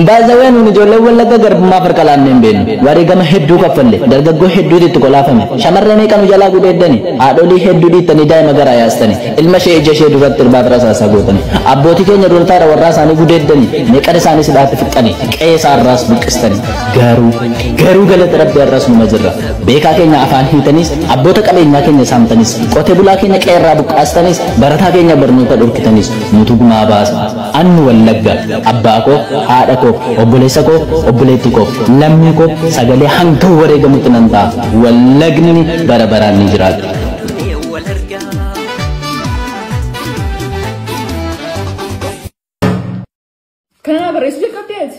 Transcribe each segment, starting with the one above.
Baay'ee nuun ijoollee wallagga garbummaa farqa laannee hin beeknu. Wareegama hedduu kaffalle. Dargaggoo hedduutu itti kolaafame. Shamarree meeqan jalaa gudeeddani. Haadholii hedduu dhiittanii daa'ima garaa yaastani. Ilma ishee ija ishee duratti irbaaf rasaasaa gootani. Abbootii keenya duultaadha warraa isaanii gudeeddani. Meeqan isaanii sidhaatti fixxani. Qe'ee isaarraas buqqistani. Gaaruu garuu galata rabbi har'as numa jirra beekaa keenya afaan hiitaniis abboota qabeenyaa keenya saamtaniis qote bulaa keenya qeerraa buqqaastaniis barataa keenya barnoota dhorkitaniis nutu gumaa baasa annu wallagga abbaa koo haadha koo obboleessa koo obboleetti koo lammii koo sagalee hanga wareegamutti nan ta'a wallagni bara baraan ni jiraata. Kana barreessuu jalqabdee ati?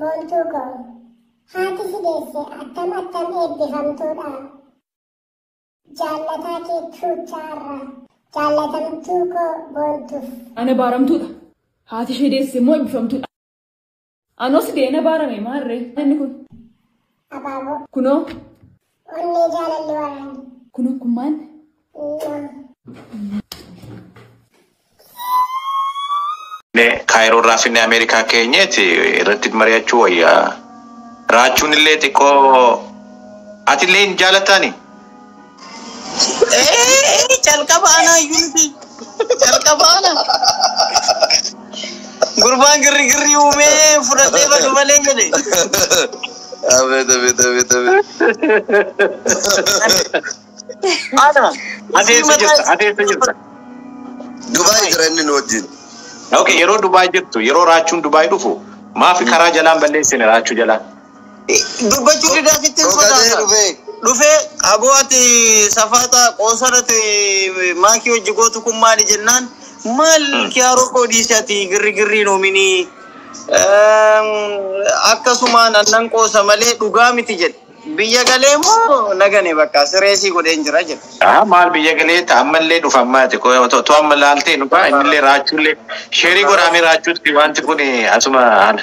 Boontuu koo. Haati si deesse attam attam eebbifamtuudha. Jaallataa kee tuuchaa irraa. Jaallatamtuu koo boontuuf. Ana baaramtuudha. Haati ishee deesse immoo eebbifamtuudha. Anos deena baarame maarree inni kun. Abaaboo. Kunoo. Onnee jaalalli waraanne. Kun okkummaan. Kaayiroo irraa finne Ameerikaa keenyeeti irratti mari'achuu wayya. Raachuun illee xiqqoo ati illee hin jaalataani. Calqaba anaa iyyuu miti. Calqaba anaa. Gurbaan girrigirri uumee fudhadhee badu malee jedhe. Abeet abeet abeet abeet. Ana. Ateessa jirta, ateessa jirta. Dubaay jira inni nu wajjin. Okay, yeroo Dubaay jirtu, yeroo Raachuun Dubaay dhufu, maafi karaa jalaan balleessine Raachuu jalaa? Dubbachuu didaa sitti hin sodaata. Dhufee aboo ati safaaxa qoosarati maakii hojji gootu kun maali jennaan maal kiyaaroo koo dhiisi ati girrigirriin hoomini akkasumaan annan qoosa malee dhugaa miti jedhe. Biyya galee moo nagane bakka sireesii godheen jira jedhe. Aha maal biyya galee ta ammallee dhufa ammaati to amma laaltee dhufa innillee raachuullee sheerii godhaamee raachuutti wanti kun asuma ana.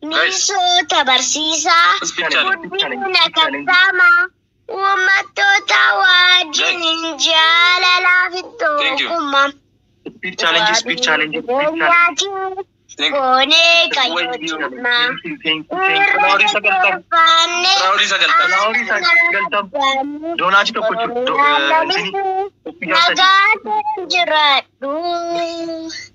Misoota barsiisaa, guddina kattaamaa, uummattoota wajjin jaalalaa fi tokkummaa, keenyaatiin goonee qayyootummaa, irra deeffaannee aanaa nagaa keenya jiraadhu.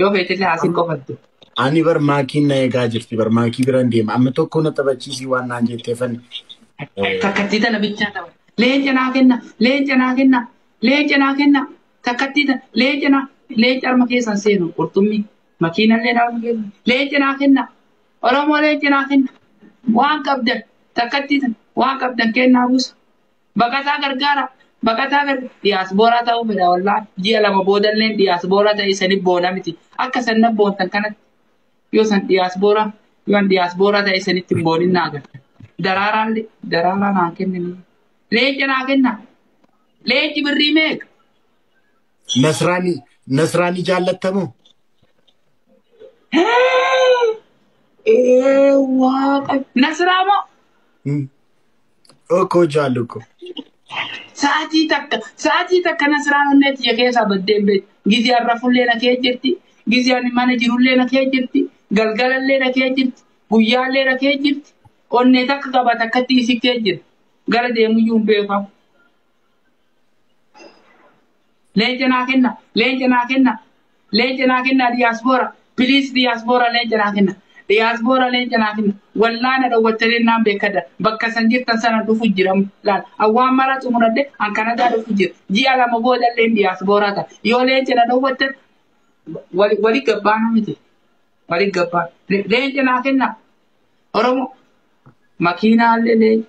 Yoo feetillee asiin qofattu. Ani bar maakiin na eegaa jirti bar maakii biraan deema amma tokko na taphachiisii waan naan jetteefan Takkattii tana bichaa tapha. Leenca naa kenna, leenca naa kenna, leenca naa kenna. Takkattii tana, leenca naa, leenca harma keessan seenu qurxummii. Makiinallee harma keessan. Leenca naa kenna. Oromoo leenca naa kenna. Waan qabdan, takkattii tana, waan qabdan kennaa buusa. Baqataa gargaara. Baqataa gar diyaasbooraa ta'uu fedha wallaahi. Ji'a lama boodalleen diyaasbooraa ta'ee isaniif boona miti. Akka isan nan boontan kanatti yoo isan diyaasbooraa yoo an diyaasbooraa ta'ee isanitti hin boonin naa gala. Daraaraan le- daraaraa naa kennanii. Leenca naa kenna. Leenci birrii meeqa? Nasraanii Nasraanii jaallattamoo? Ee waaqa. Nasraa moo? Hmm. Okkoo jaallu ko. Sa'atii takka sa'atii takka nasiraan onnee tiyya keessaa baddee hin beektu. Gizee har'a fullee na kee jirti. Gizee ani mana jirullee na kee jirti. Galgalallee na kee jirti. Guyyaallee na kee jirti. Onnee takka qaba takkatti isi kee jirti. Gara deemuyyuu hin beekamu. Leenca naa kenna, leenca naa kenna, leenca naa kenna diyaaspoora. Piliis diyaaspoora leenca naa kenna. Diyaaspoora leenca naa kenna. Wallaana dhowwattanii naan beekadha. Bakka san jirtan sana dhufu jira. Laal awwaan mara xumuradhe an Kanadaa dhufu jira. Ji'a lama booda illee diyaaspooraa ta'a. Yoo leenca na dhowwattan wali wali gabbaana miti. Wali gabbaan. Leenca naa kenna. Oromoo. Makiinaa illee leenca.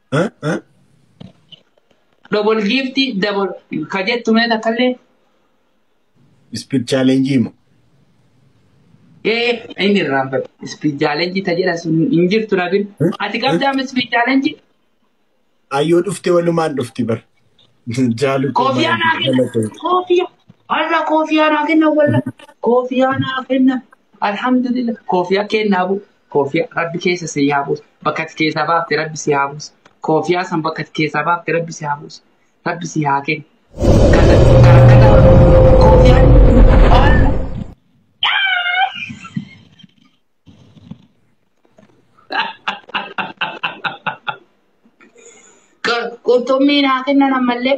Double giifti double ka jettu mee takkallee. Speed challenge mo. Ee inni irraan bade. Speed challenge ta jedha sun hin jirtu nabin. Ati qabdaa mi speed challenge? Ayyoo dhufte walumaan dhufti bar. Jaalu Koofiyaa naa kenna. Koofiyaa. Har'a koofiyaa naa kenna walla. Koofiyaa naa kenna. Alhamdulillah koofiyaa kennaa bu koofiyaa rabbi keessa si haa buusu bakka ati keessaa baafte rabbi si haa buusu koofiyaa san bakka ati keessaa baafte rabbi si haa buusu rabbi si haa kennu. Kata kata kata koofiyaan waan qurxummii naa kennan ammallee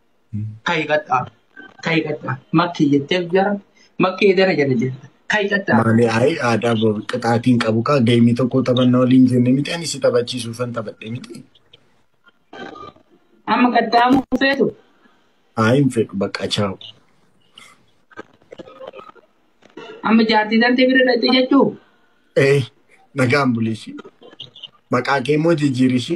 Kai qatta. Kai qatta. Makki jettee jara. Makki edara jara jetta. Kai qatta. Maali ayi aadaa bo- qixaatiin qabu kaa geemii tokko taphanna waliin jenne miti ani si taphachiisuufan taphadhe miti. Amma qaxxaamuu feetu. Ayi hin fedhu bakka chaawu. Amma jaartii tantee bira dhaqxe jechuu. Ee nagaan buliisi. Maqaa kee immoo jijjiirisi.